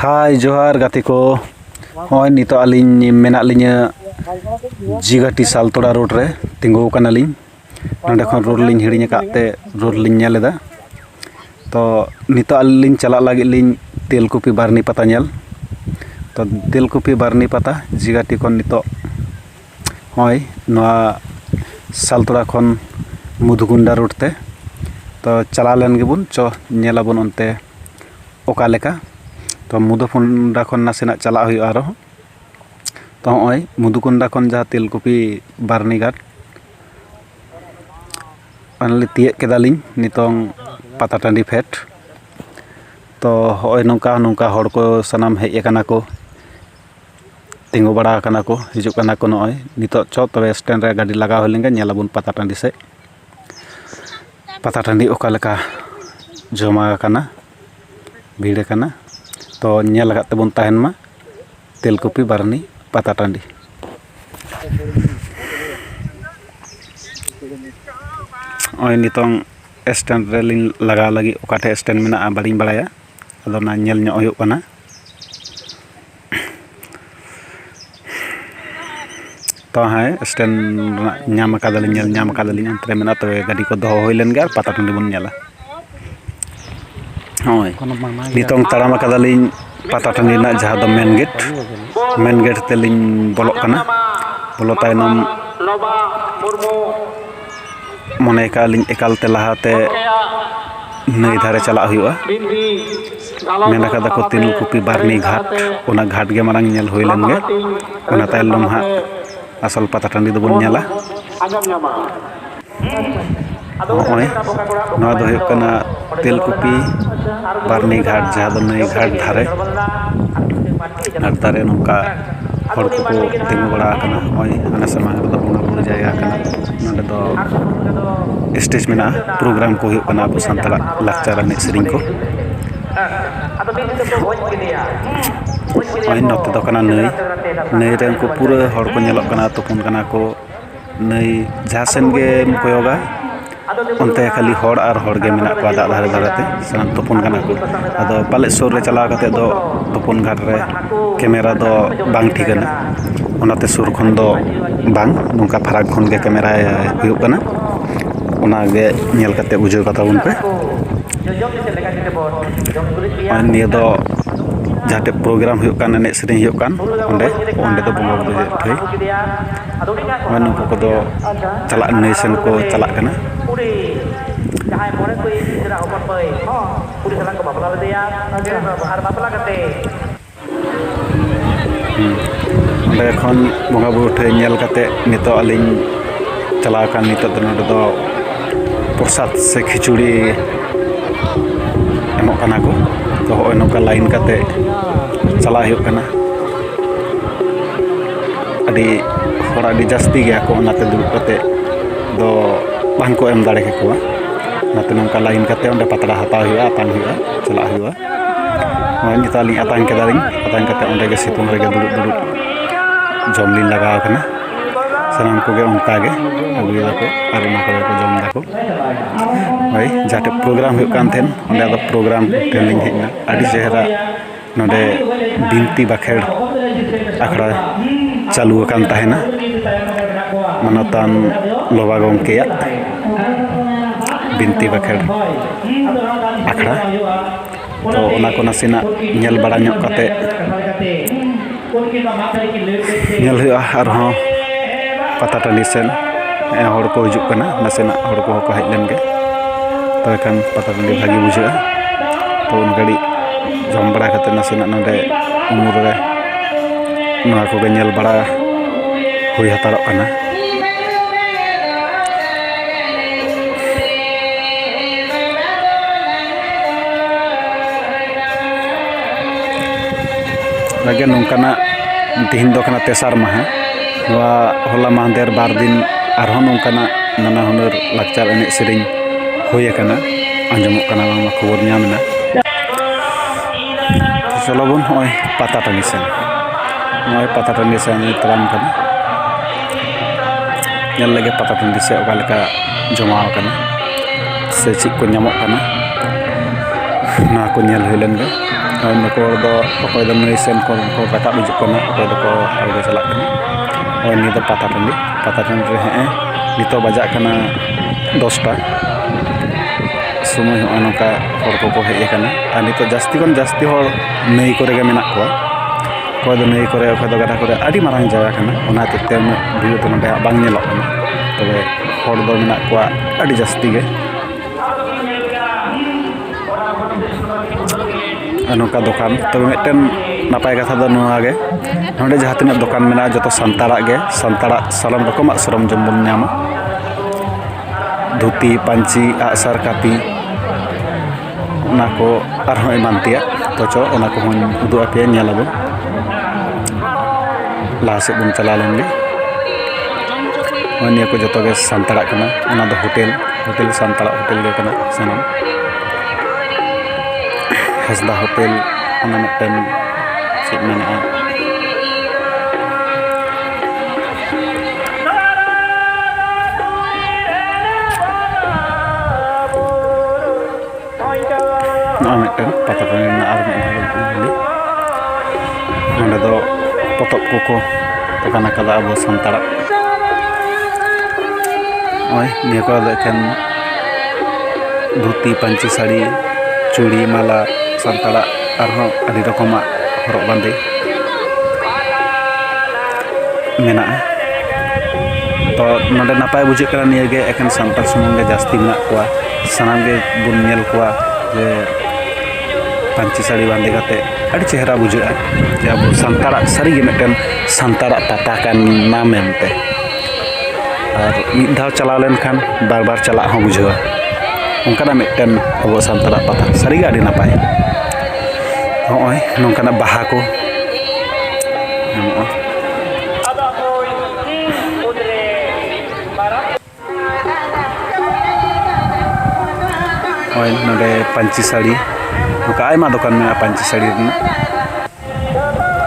ᱦᱟᱭ ᱡᱚᱦᱟᱨ ᱜᱟᱛᱮ ᱠᱚ ᱦᱚᱸᱜᱼᱚᱭ ᱱᱤᱛᱚᱜ ᱟᱹᱞᱤᱧ ᱢᱮᱱᱟᱜ ᱞᱤᱧᱟᱹ ᱡᱤᱜᱟᱴᱤ ᱥᱟᱞᱛᱚᱲᱟ ᱨᱳᱰ ᱨᱮ ᱛᱤᱸᱜᱩ ᱟᱠᱟᱱᱟᱞᱤᱧ ᱱᱚᱸᱰᱮ ᱠᱷᱚᱱ ᱨᱳᱰ ᱞᱤᱧ ᱦᱤᱲᱤᱧ ᱟᱠᱟᱫ ᱛᱮ ᱨᱳᱰ ᱞᱤᱧ ᱧᱮᱞ ᱮᱫᱟ ᱛᱚ ᱱᱤᱛᱚᱜ ᱟᱹᱞᱤᱧ ᱞᱤᱧ ᱪᱟᱞᱟᱜ ᱞᱟᱹᱜᱤᱫ ᱞᱤᱧ ᱛᱮᱞᱠᱩᱯᱤ ᱵᱟᱨᱱᱤ ᱯᱟᱛᱟ ᱧᱮᱞ ᱛᱚ ᱛᱮᱞᱠᱩᱯᱤ ᱵᱟᱨᱱᱤ ᱯᱟᱛᱟ ᱡᱤᱜᱟᱴᱤ ᱠᱷᱚᱱ ᱱᱤᱛᱚᱜ ᱦᱚᱸᱜᱼᱚᱭ ᱱᱚᱣᱟ ᱥᱟᱞᱛᱚᱲᱟ ᱠᱷᱚᱱ ᱢᱚᱫᱷᱩᱠᱩᱱᱰᱟ ᱨᱳᱰ ᱛᱮ ᱛᱚ ᱪᱟᱞᱟᱣ ᱞᱮᱱ ᱜᱮᱵᱚᱱ ᱪᱚ ᱧᱮᱞ ᱟᱵᱚᱱ ᱚᱱᱛᱮ ᱚᱠᱟ ᱞᱮᱠᱟ ᱛᱚ ᱢᱩᱫᱷᱩ ᱠᱚᱱᱰᱟ ᱠᱷᱚᱱ ᱱᱟᱥᱮᱱᱟᱜ ᱪᱟᱞᱟᱜ ᱦᱩᱭᱩᱜᱼᱟ ᱟᱨᱚ ᱛᱚ ᱦᱚᱸᱜᱼᱚᱭ ᱢᱩᱫᱷᱩ ᱠᱚᱱᱰᱟ ᱠᱷᱚᱱ ᱡᱟᱦᱟᱸ ᱛᱮᱞᱠᱩᱯᱤ ᱵᱟᱹᱨᱱᱤ ᱜᱷᱟᱴ ᱯᱷᱟᱭᱱᱟᱞᱤ ᱛᱤᱭᱟᱹᱜ ᱠᱮᱫᱟᱞᱤᱧ ᱱᱤᱛᱚᱝ ᱯᱟᱛᱟ ᱴᱟᱺᱰᱤ ᱯᱷᱮᱰ ᱛᱚ ᱦᱚᱸᱜᱼᱚᱭ ᱱᱚᱝᱠᱟ ᱱᱚᱝᱠᱟ ᱦᱚᱲ ᱠᱚ ᱥᱟᱱᱟᱢ ᱦᱮᱡ ᱠᱟᱱᱟ ᱠᱚ ᱛᱤᱸᱜᱩ ᱵᱟᱲᱟ ᱠᱟᱱᱟ ᱠᱚ ᱦᱤᱡᱩᱜ ᱠᱟᱱᱟ ᱠᱚ ᱱᱚᱜᱼᱚᱭ ᱱᱤᱛᱚᱜ ᱪᱚ ᱛᱚᱵᱮ ᱥᱴᱮᱱᱰ ᱨᱮ ᱜᱟᱹᱰᱤ ᱞᱟᱜᱟ ᱦᱩᱭ ᱞᱮᱱᱜᱮ ᱧᱮᱞ ᱟᱵᱚᱱ ᱯᱟᱛᱟ ᱴᱟᱺᱰᱤ ᱥᱮᱫ ᱯᱟᱛᱟ ᱴᱟᱺᱰᱤ ᱚᱠᱟ ᱞᱮᱠᱟ ᱡᱚᱢᱟᱣ ᱟᱠᱟᱱᱟ ᱵᱷᱤᱲ ᱟᱠᱟᱱᱟ ᱛᱚ ᱧᱮᱞ ᱟᱠᱟᱫ ᱛᱮᱵᱚᱱ ᱛᱟᱦᱮᱱ ᱢᱟ ᱛᱮᱞᱠᱩᱯᱤ ᱵᱟᱨᱱᱤ ᱯᱟᱛᱟ ᱴᱟᱺᱰᱤ ᱱᱚᱜᱼᱚᱭ ᱱᱤᱛᱚᱝ ᱥᱴᱮᱱᱰ ᱨᱮᱞᱤᱧ ᱞᱟᱜᱟᱣ ᱞᱟᱹᱜᱤᱫ ᱚᱠᱟ ᱴᱷᱮᱱ ᱥᱴᱮᱱᱰ ᱢᱮᱱᱟᱜᱼᱟ ᱵᱟᱹᱞᱤᱧ ᱵᱟᱲᱟᱭᱟ ᱟᱫᱚ ᱚᱱᱟ ᱧᱮᱞ ᱧᱚᱜ ᱦᱩᱭᱩᱜ ᱠᱟᱱᱟ ᱛᱚ ᱦᱮᱸ ᱥᱴᱮᱱ ᱨᱮᱱᱟᱜ ᱧᱟᱢ ᱟᱠᱟᱫᱟᱞᱤᱧ ᱧᱮᱞ ᱧᱟᱢ ᱟᱠᱟᱫᱟᱞᱤᱧ ᱚᱱᱛᱮ ᱨᱮ ᱢᱮᱱᱟᱜᱼᱟ ᱛᱚᱵᱮ ᱜᱟᱹᱰᱤ ᱠᱚ ᱫᱚᱦᱚ ᱦᱩᱭ ᱞᱮᱱ ᱜᱮ ᱟᱨ ᱯᱟᱛᱟ ᱴᱟᱺᱰᱤ ᱵᱚᱱ ᱧᱮᱞᱟ ᱦᱳᱭ ᱱᱤᱛᱚᱝ ᱛᱟᱲᱟᱢ ᱟᱠᱟᱫᱟᱞᱤᱧ ᱯᱟᱛᱟ ᱴᱟᱺᱰᱤ ᱨᱮᱱᱟᱜ ᱡᱟᱦᱟᱸ ᱫᱚ ᱢᱮᱱ ᱜᱮᱴ ᱢᱮᱱ ᱜᱮᱴ ᱛᱮᱞᱤᱧ ᱵᱚᱞᱚᱜ ᱠᱟᱱᱟ ᱵᱚᱞᱚ ᱛᱟᱭᱱᱚᱢ ᱢᱚᱱᱮ ᱠᱟᱜᱼᱟ ᱞᱤᱧ ᱮᱠᱟᱞᱛᱮ ᱞᱟᱦᱟᱛᱮ ᱱᱟᱹᱭ ᱫᱷᱟᱨᱮ ᱪᱟᱞᱟᱜ ᱦᱩᱭᱩᱜᱼᱟ ᱢᱮᱱ ᱠᱟᱫᱟ ᱠᱚ ᱛᱤᱞ ᱠᱩᱯᱤ ᱵᱟᱨᱱᱤ ᱜᱷᱟᱴ ᱚᱱᱟ ᱜᱷᱟᱴ ᱜᱮ ᱢᱟᱲᱟᱝ ᱧᱮᱞ ᱦᱩᱭ ᱞᱮᱱ ᱜᱮ ᱚᱱᱟ ᱛᱟᱭᱱᱚᱢ ᱦᱟᱸᱜ ᱟᱥᱚᱞ ᱯᱟᱛᱟ ᱴᱟᱺᱰᱤ ᱫᱚᱵᱚᱱ ᱧᱮᱞᱟ ᱱᱚᱜᱼᱚᱭ ᱱᱚᱣᱟ ᱫᱚ ᱦᱩᱭᱩᱜ ᱠᱟᱱᱟ ᱛᱤᱞ ᱠᱩᱯᱤ ᱵᱟᱨᱱᱤ ᱜᱷᱟᱴ ᱡᱟᱦᱟᱸ ᱫᱚ ᱱᱟᱹᱭ ᱜᱷᱟᱴ ᱫᱷᱟᱨᱮ ᱟᱨ ᱫᱟᱨᱮ ᱱᱚᱝᱠᱟ ᱦᱚᱲ ᱠᱚᱠᱚ ᱛᱤᱸᱜᱩ ᱵᱟᱲᱟ ᱟᱠᱟᱱᱟ ᱱᱚᱜᱼᱚᱭ ᱟᱞᱮ ᱥᱟᱢᱟᱝ ᱨᱮᱫᱚ ᱵᱚᱸᱜᱟᱼᱵᱩᱨᱩ ᱡᱟᱭᱜᱟ ᱠᱟᱱᱟ ᱱᱚᱸᱰᱮ ᱫᱚ ᱥᱴᱮᱡᱽ ᱢᱮᱱᱟᱜᱼᱟ ᱯᱨᱳᱜᱨᱟᱢ ᱠᱚ ᱦᱩᱭᱩᱜ ᱠᱟᱱᱟ ᱟᱵᱚ ᱥᱟᱱᱛᱟᱲᱟᱜ ᱞᱟᱠᱪᱟᱨ ᱮᱱᱮᱡ ᱥᱮᱨᱮᱧ ᱠᱚ ᱱᱚᱜᱼᱚᱭ ᱱᱚᱛᱮ ᱫᱚ ᱠᱟᱱᱟ ᱱᱟᱹᱭ ᱱᱟᱹᱭ ᱨᱮ ᱩᱱᱠᱩ ᱯᱩᱨᱟᱹ ᱦᱚᱲ ᱠᱚ ᱧᱮᱞᱚᱜ ᱠᱟᱱᱟ ᱛᱩᱯᱩᱱ ᱠᱟᱱᱟ ᱠᱚ ᱱᱟᱹᱭ ᱡᱟᱦᱟᱸ ᱥᱮᱱ ᱜᱮᱢ ᱠᱚᱭᱚᱜᱟ ᱚᱱᱛᱮ ᱠᱷᱟᱹᱞᱤ ᱦᱚᱲ ᱟᱨ ᱦᱚᱲ ᱜᱮ ᱢᱮᱱᱟᱜ ᱠᱚᱣᱟ ᱫᱟᱜ ᱫᱷᱟᱨᱮ ᱫᱷᱟᱨᱮ ᱛᱮ ᱥᱟᱱᱟᱢ ᱛᱩᱯᱩᱱ ᱠᱟᱱᱟ ᱠᱚ ᱟᱫᱚ ᱯᱟᱞᱮᱫ ᱥᱩᱨ ᱨᱮ ᱪᱟᱞᱟᱣ ᱠᱟᱛᱮᱫ ᱫᱚ ᱛᱩᱯᱩᱱ ᱜᱷᱟᱴ ᱨᱮ ᱠᱮᱢᱮᱨᱟ ᱫᱚ ᱵᱟᱝ ᱴᱷᱤᱠᱟ ᱚᱱᱟᱛᱮ ᱥᱩᱨ ᱠᱷᱚᱱ ᱫᱚ ᱵᱟᱝ ᱱᱚᱝᱠᱟ ᱯᱷᱟᱨᱟᱠ ᱠᱷᱚᱱ ᱜᱮ ᱠᱮᱢᱮᱨᱟ ᱦᱩᱭᱩᱜ ᱠᱟᱱᱟ ᱚᱱᱟ ᱜᱮ ᱧᱮᱞ ᱠᱟᱛᱮᱫ ᱵᱩᱡᱷᱟᱹᱣ ᱠᱟᱛᱟ ᱵᱚᱱ ᱯᱮ ᱟᱨ ᱱᱤᱭᱟᱹ ᱫᱚ ᱡᱟᱦᱟᱸ ᱴᱷᱮᱱ ᱯᱨᱳᱜᱨᱟᱢ ᱦᱩᱭᱩᱜ ᱠᱟᱱ ᱮᱱᱮᱡ ᱥᱮᱨᱮᱧ ᱦᱩᱭᱩᱜ ᱠᱟᱱ ᱚᱸᱰᱮ ᱚᱸᱰᱮ ᱫᱚ ᱵᱚᱸᱜᱟᱼᱵᱩᱨᱩ ᱴᱷᱟᱹᱭ ᱟᱨ ᱱᱩᱠᱩ ᱠᱚᱫᱚ ᱪᱟᱞᱟᱜ ᱱᱟᱹᱭ ᱥᱮᱱ ᱠᱚ ᱪᱟᱞᱟᱜ ᱠᱟᱱᱟ ᱚᱸᱰᱮ ᱠᱷᱚᱱ ᱵᱚᱸᱜᱟᱼᱵᱩᱨᱩ ᱴᱷᱮᱡ ᱧᱮᱞ ᱠᱟᱛᱮ ᱱᱤᱛᱚᱜ ᱟᱹᱞᱤᱧ ᱪᱟᱞᱟᱣ ᱠᱟᱱ ᱱᱤᱛᱚᱜ ᱫᱚ ᱱᱚᱰᱮ ᱫᱚ ᱯᱨᱚᱥᱟᱫᱽ ᱥᱮ ᱠᱷᱤᱪᱩᱲᱤ ᱮᱢᱚᱜ ᱠᱟᱱᱟ ᱠᱚ ᱛᱚ ᱦᱚᱸᱜᱼᱚᱭ ᱱᱚᱝᱠᱟ ᱞᱟᱭᱤᱱ ᱠᱟᱛᱮ ᱪᱟᱞᱟᱜ ᱦᱩᱭᱩᱜ ᱠᱟᱱᱟ ᱟᱹᱰᱤ ᱦᱚᱲ ᱟᱹᱰᱤ ᱡᱟᱹᱥᱛᱤ ᱜᱮᱭᱟ ᱠᱚ ᱚᱱᱟᱛᱮ ᱫᱩᱲᱩᱵ ᱠᱟᱛᱮ ᱫᱚ ᱵᱟᱝ ᱠᱚ ᱮᱢ ᱫᱟᱲᱮ ᱠᱮᱠᱚᱣᱟ ᱚᱱᱟᱛᱮ ᱱᱚᱝᱠᱟ ᱞᱟᱭᱤᱱ ᱠᱟᱛᱮ ᱚᱸᱰᱮ ᱯᱟᱛᱲᱟ ᱦᱟᱛᱟᱣ ᱦᱩᱭᱩᱜᱼᱟ ᱟᱛᱟᱝ ᱦᱩᱭᱩᱜᱼᱟ ᱪᱟᱞᱟᱜ ᱦᱩᱭᱩᱜᱼᱟ ᱱᱚᱜᱼᱚᱭ ᱱᱤᱛᱚᱜ ᱟᱹᱞᱤᱧ ᱟᱛᱟᱝ ᱠᱮᱫᱟᱞᱤᱧ ᱟᱛᱟᱝ ᱠᱟᱛᱮ ᱚᱸᱰᱮ ᱜᱮ ᱥᱤᱛᱩᱝ ᱨᱮᱜᱮ ᱫᱩᱲᱩᱵ ᱫᱩᱲᱩᱵ ᱡᱚᱢ ᱞᱤᱧ ᱞᱟᱜᱟᱣ ᱠᱟᱱᱟ ᱥᱟᱱᱟᱢ ᱠᱚᱜᱮ ᱚᱱᱠᱟ ᱜᱮ ᱟᱹᱜᱩᱭ ᱫᱟᱠᱚ ᱟᱨ ᱚᱱᱟ ᱠᱚᱜᱮ ᱠᱚ ᱡᱚᱢ ᱫᱟᱠᱚ ᱦᱳᱭ ᱡᱟᱦᱟᱸ ᱴᱷᱮᱡ ᱯᱨᱳᱜᱨᱟᱢ ᱦᱩᱭᱩᱜ ᱠᱟᱱ ᱛᱟᱦᱮᱸᱫ ᱚᱸᱰᱮ ᱟᱫᱚ ᱯᱨᱳᱜᱨᱟᱢ ᱴᱷᱮᱱ ᱞᱤᱧ ᱦᱮᱡ ᱮᱱᱟ ᱟᱹᱰᱤ ᱪᱮᱦᱨᱟ ᱱᱚᱰᱮ ᱵᱤᱱᱛᱤ ᱵᱟᱠᱷᱮᱲ ᱟᱠᱷᱲᱟ ᱪᱟᱹᱞᱩ ᱟᱠᱟᱱ ᱛᱟᱦᱮᱱᱟ ᱢᱟᱱᱚᱛᱟᱱ ᱞᱚᱵᱟ ᱜᱚᱢᱠᱮᱭᱟᱜ ᱵᱤᱱᱛᱤ ᱵᱟᱠᱷᱮᱲ ᱟᱠᱷᱲᱟ ᱛᱚ ᱚᱱᱟ ᱠᱚ ᱱᱟᱥᱮᱱᱟᱜ ᱧᱮᱞ ᱵᱟᱲᱟ ᱧᱚᱜ ᱠᱟᱛᱮᱫ ᱧᱮᱞ ᱦᱩᱭᱩᱜᱼᱟ ᱟᱨᱦᱚᱸ ᱯᱟᱛᱟ ᱴᱟᱺᱰᱤ ᱥᱮᱫ ᱦᱚᱲ ᱠᱚ ᱦᱤᱡᱩᱜ ᱠᱟᱱᱟ ᱱᱟᱥᱮᱱᱟᱜ ᱦᱚᱲ ᱠᱚᱦᱚᱸ ᱠᱚ ᱦᱮᱡ ᱞᱮᱱᱜᱮ ᱛᱚᱵᱮ ᱠᱷᱟᱱ ᱯᱟᱛᱟ ᱴᱟᱺᱰᱤ ᱵᱷᱟᱹᱜᱤ ᱵᱩᱡᱷᱟᱹᱜᱼᱟ ᱛᱚ ᱩᱱ ᱜᱷᱟᱹᱲᱤᱡ ᱡᱚᱢ ᱵᱟᱲᱟ ᱠᱟᱛᱮᱫ ᱱᱟᱥᱮᱱᱟᱜ ᱱᱚᱰᱮ ᱩᱢᱩᱞ ᱨᱮ ᱱᱚᱣᱟ ᱠᱚᱜᱮ ᱧᱮᱞ ᱵᱟᱲᱟ ᱦᱩᱭ ᱦᱟᱛᱟᱲᱚᱜ ᱠᱟᱱᱟ ᱞᱟᱹᱜᱤᱫ ᱱᱚᱝᱠᱟᱱᱟᱜ ᱛᱮᱦᱮᱧ ᱫᱚ ᱠᱟᱱᱟ ᱛᱮᱥᱟᱨ ᱢᱟᱦᱟ ᱱᱚᱣᱟ ᱦᱚᱞᱟ ᱢᱟᱦᱫᱮᱨ ᱵᱟᱨ ᱫᱤᱱ ᱟᱨᱦᱚᱸ ᱱᱚᱝᱠᱟᱱᱟᱜ ᱱᱟᱱᱟ ᱦᱩᱱᱟᱹᱨ ᱞᱟᱠᱪᱟᱨ ᱮᱱᱮᱡ ᱥᱮᱨᱮᱧ ᱦᱩᱭ ᱟᱠᱟᱱᱟ ᱟᱸᱡᱚᱢᱚᱜ ᱠᱟᱱᱟ ᱵᱟᱝᱢᱟ ᱠᱷᱚᱵᱚᱨ ᱧᱟᱢ ᱮᱱᱟ ᱪᱚᱞᱚ ᱵᱚᱱ ᱱᱚᱜᱼᱚᱭ ᱯᱟᱛᱟ ᱴᱟᱺᱰᱤ ᱥᱮᱱ ᱱᱚᱜᱼᱚᱭ ᱯᱟᱛᱟ ᱴᱟᱺᱰᱤ ᱥᱮᱱ ᱛᱟᱲᱟᱢ ᱠᱟᱱᱟ ᱧᱮᱞ ᱞᱮᱜᱮ ᱯᱟᱛᱟ ᱴᱟᱺᱰᱤ ᱥᱮᱫ ᱚᱠᱟ ᱞᱮᱠᱟ ᱡᱚᱢᱟᱣ ᱠᱟᱱᱟ ᱥᱮ ᱪᱮᱫ ᱠᱚ ᱧᱟᱢᱚᱜ ᱠᱟᱱᱟ ᱚᱱᱟ ᱠᱚ ᱧᱮᱞ ᱦᱩᱭ ᱞᱮᱱ ᱜᱮ ᱟᱨ ᱱᱩᱠᱩ ᱦᱚᱲ ᱫᱚ ᱚᱠᱚᱭ ᱫᱚ ᱱᱟᱹᱭ ᱥᱮᱫ ᱠᱷᱚᱱ ᱠᱚ ᱨᱟᱠᱟᱵ ᱦᱤᱡᱩᱜ ᱠᱟᱱᱟ ᱚᱠᱚᱭ ᱫᱚᱠᱚ ᱟᱬᱜᱚ ᱪᱟᱞᱟᱜ ᱠᱟᱱᱟ ᱟᱨ ᱱᱤᱭᱟᱹ ᱫᱚ ᱯᱟᱛᱟ ᱴᱟᱺᱰᱤ ᱯᱟᱛᱟ ᱴᱟᱺᱰᱤ ᱨᱮ ᱦᱮᱸᱜᱼᱮ ᱱᱤᱛᱚᱜ ᱵᱟᱡᱟᱜ ᱠᱟᱱᱟ ᱫᱚᱥᱴᱟ ᱥᱚᱢᱚᱭ ᱦᱚᱸᱜᱼᱚᱭ ᱱᱚᱝᱠᱟ ᱦᱚᱲ ᱠᱚᱠᱚ ᱦᱮᱡ ᱠᱟᱱᱟ ᱟᱨ ᱱᱤᱛᱚᱜ ᱡᱟᱹᱥᱛᱤ ᱠᱷᱚᱱ ᱡᱟᱹᱥᱛᱤ ᱦᱚᱲ ᱱᱟᱹᱭ ᱠᱚᱨᱮ ᱜᱮ ᱢᱮᱱᱟᱜ ᱠᱚᱣᱟ ᱚᱠᱚᱭ ᱫᱚ ᱱᱟᱹᱭ ᱠᱚᱨᱮ ᱚᱠᱚᱭ ᱫᱚ ᱜᱟᱰᱟ ᱠᱚᱨᱮ ᱟᱹᱰᱤ ᱢᱟᱨᱟᱝ ᱡᱟᱭᱜᱟ ᱠᱟᱱᱟ ᱚᱱᱟ ᱦᱚᱛᱮᱡ ᱛᱮ ᱩᱱᱟᱹᱜ ᱵᱷᱤᱲ ᱫᱚ ᱱᱚᱰᱮ ᱵᱟᱝ ᱧᱮᱞᱚᱜ ᱠᱟᱱᱟ ᱛᱚᱵᱮ ᱦᱚᱲ ᱫᱚ ᱢᱮᱱᱟᱜ ᱠᱚᱣᱟ ᱟᱹᱰᱤ ᱡᱟᱹᱥᱛᱤ ᱜᱮ ᱟᱨ ᱱᱚᱝᱠᱟ ᱫᱚᱠᱟᱱ ᱛᱚᱵᱮ ᱢᱤᱫᱴᱮᱱ ᱱᱟᱯᱟᱭ ᱠᱟᱛᱷᱟ ᱫᱚ ᱱᱚᱣᱟ ᱜᱮ ᱱᱚᱰᱮ ᱡᱟᱦᱟᱸ ᱛᱤᱱᱟᱹᱜ ᱫᱚᱠᱟᱱ ᱢᱮᱱᱟᱜᱼᱟ ᱡᱚᱛᱚ ᱥᱟᱱᱛᱟᱲᱟᱜ ᱜᱮ ᱥᱟᱱᱛᱟᱲᱟᱜ ᱥᱟᱱᱟᱢ ᱨᱚᱠᱚᱢᱟᱜ ᱥᱚᱨᱚᱢ ᱡᱚᱢ ᱵᱚᱱ ᱧᱟᱢᱟ ᱫᱷᱩᱛᱤ ᱯᱟᱹᱧᱪᱤ ᱟᱜᱼᱥᱟᱨ ᱠᱟᱹᱯᱤ ᱚᱱᱟ ᱠᱚ ᱟᱨᱦᱚᱸ ᱮᱢᱟᱱ ᱛᱮᱭᱟᱜ ᱛᱚ ᱪᱚ ᱚᱱᱟ ᱠᱚᱦᱚᱸᱧ ᱩᱫᱩᱜ ᱟᱯᱮᱭᱟ ᱧᱮᱞ ᱟᱵᱚᱱ ᱞᱟᱦᱟ ᱥᱮᱫ ᱵᱚᱱ ᱪᱟᱞᱟᱣ ᱞᱮᱱ ᱜᱮ ᱱᱚᱜᱼᱚᱭ ᱱᱤᱭᱟᱹ ᱠᱚ ᱡᱚᱛᱚ ᱜᱮ ᱥᱟᱱᱛᱟᱲᱟᱜ ᱠᱟᱱᱟ ᱚᱱᱟ ᱫᱚ ᱦᱳᱴᱮᱞ ᱦᱳᱴᱮᱞ ᱥᱟᱱᱛᱟᱲᱟᱜ ᱦᱳᱴᱮᱞ ᱜᱮ ᱠᱟᱱᱟ ᱥᱟᱱᱟᱢ ᱦᱟᱸᱥᱫᱟ ᱦᱳᱴᱮᱞ ᱚᱱᱟ ᱢᱤᱫᱴᱮᱱ ᱪᱮᱫ ᱢᱮᱱᱟᱜᱼᱟ ᱱᱚᱜᱼᱚᱭ ᱢᱤᱫᱴᱮᱱ ᱯᱟᱛᱟ ᱴᱟᱺᱰᱤ ᱨᱮᱱᱟᱜ ᱟᱨ ᱢᱤᱫ ᱵᱷᱟᱹᱞᱤ ᱱᱚᱸᱰᱮ ᱫᱚ ᱯᱚᱛᱚᱵ ᱠᱚᱠᱚ ᱫᱚᱠᱟᱱ ᱟᱠᱟᱫᱟ ᱟᱵᱚ ᱥᱟᱱᱛᱟᱲᱟᱜ ᱱᱚᱜᱼᱚᱭ ᱱᱤᱭᱟᱹ ᱠᱚᱨᱮ ᱫᱚ ᱮᱠᱷᱮᱱ ᱫᱷᱩᱛᱤ ᱯᱟᱹᱧᱪᱤ ᱥᱟᱹᱲᱤ ᱪᱩᱲᱤ ᱢᱟᱞᱟ ᱥᱟᱱᱛᱟᱲᱟᱜ ᱟᱨᱦᱚᱸ ᱟᱹᱰᱤ ᱨᱚᱠᱚᱢᱟᱜ ᱦᱚᱨᱚᱜ ᱵᱟᱸᱫᱮ ᱢᱮᱱᱟᱜᱼᱟ ᱛᱚ ᱱᱚᱰᱮ ᱱᱟᱯᱟᱭ ᱵᱩᱡᱷᱟᱹᱜ ᱠᱟᱱᱟ ᱱᱤᱭᱟᱹ ᱜᱮ ᱮᱠᱷᱮᱱ ᱥᱟᱱᱛᱟᱲ ᱥᱩᱢᱩᱝ ᱜᱮ ᱡᱟᱹᱥᱛᱤ ᱢᱮᱱᱟᱜ ᱠᱚᱣᱟ ᱥᱟᱱᱟᱢ ᱜᱮ ᱵᱚᱱ ᱧᱮᱞ ᱠᱚᱣᱟ ᱡᱮ ᱯᱟᱹᱧᱪᱤ ᱥᱟᱹᱲᱤ ᱵᱟᱸᱫᱮ ᱠᱟᱛᱮ ᱟᱹᱰᱤ ᱪᱮᱦᱨᱟ ᱵᱩᱡᱷᱟᱹᱜᱼᱟ ᱡᱮ ᱟᱵᱚ ᱥᱟᱱᱛᱟᱲᱟᱜ ᱥᱟᱹᱨᱤᱜᱮ ᱢᱤᱫᱴᱮᱱ ᱥᱟᱱᱛᱟᱲᱟᱜ ᱯᱟᱛᱟ ᱠᱟᱱᱟ ᱢᱮᱱᱛᱮ ᱟᱨ ᱢᱤᱫ ᱫᱷᱟᱣ ᱪᱟᱞᱟᱣ ᱞᱮᱱᱠᱷᱟᱱ ᱵᱟᱨ ᱵᱟᱨ ᱪᱟᱞᱟᱜ ᱦᱚᱸ ᱵᱩᱡᱷᱟᱹᱣᱟ ᱚᱱᱠᱟᱱᱟᱜ ᱢᱤᱫᱴᱮᱱ ᱟᱵᱚ ᱥᱟᱱᱛᱟᱲᱟᱜ ᱯᱟᱛᱟ ᱥᱟᱹᱨᱤᱜᱮ ᱟᱹᱰᱤ ᱱᱟᱯᱟᱭ ᱱᱚᱜᱼᱚᱭ ᱱᱚᱝᱠᱟᱱᱟᱜ ᱵᱟᱦᱟ ᱠᱚ ᱦᱳᱭ ᱱᱚᱰᱮ ᱯᱟᱹᱧᱪᱤ ᱥᱟᱹᱲᱤ ᱱᱚᱝᱠᱟ ᱟᱭᱢᱟ ᱫᱚᱠᱟᱱ ᱢᱮᱱᱟᱜᱼᱟ ᱯᱟᱹᱧᱪᱤ ᱥᱟᱹᱲᱤ ᱨᱮᱱᱟᱜ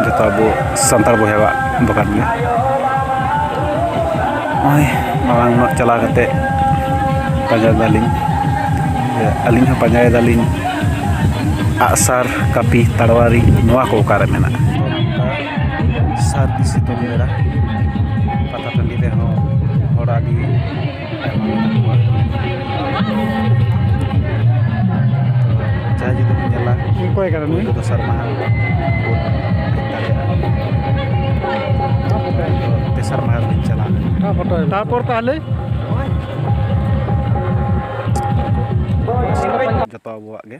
ᱡᱚᱛᱚ ᱟᱵᱚ ᱥᱟᱱᱛᱟᱲ ᱵᱚᱭᱦᱟᱣᱟᱜ ᱫᱚᱠᱟᱱ ᱜᱮ ᱱᱚᱜᱼᱚᱭ ᱢᱟᱲᱟᱝ ᱧᱚᱜ ᱪᱟᱞᱟᱣ ᱠᱟᱛᱮ ᱯᱟᱸᱡᱟ ᱫᱟᱞᱤᱧ ᱟᱹᱞᱤᱧ ᱦᱚᱸ ᱯᱟᱸᱡᱟᱭ ᱫᱟᱞᱤᱧ ᱟᱜᱼᱥᱟᱨ ᱠᱟᱹᱯᱤ ᱛᱟᱲᱣᱟᱨᱤ ᱱᱚᱣᱟ ᱠᱚ ᱚᱠᱟᱨᱮ ᱢᱮᱱᱟᱜᱼᱟ ᱥᱟᱹᱨᱫᱤ ᱥᱤᱛᱩᱝ ᱵᱮᱲᱟ ᱯᱟᱛᱟ ᱴᱟᱺᱰᱤ ᱨᱮᱦᱚᱸ ᱦᱚᱲ ᱟᱹᱰᱤ ᱡᱟᱦᱟᱸᱭ ᱡᱩᱫᱤ ᱵᱚᱱ ᱧᱮᱞᱟ ᱚᱠᱚᱭ ᱠᱟᱱᱟ ᱱᱩᱭ ᱫᱚᱥᱟᱨ ᱢᱟᱦᱟ ᱵᱚᱱ ᱦᱮᱡ ᱫᱟᱲᱮᱭᱟᱜᱼᱟ ᱛᱮᱥᱟᱨ ᱢᱟᱦᱟ ᱨᱮᱞᱤᱧ ᱪᱟᱞᱟᱣ ᱞᱮᱱᱟ ᱛᱟᱨᱯᱚᱨ ᱛᱟᱦᱞᱮ ᱡᱚᱛᱚ ᱟᱵᱚᱣᱟᱜ ᱜᱮ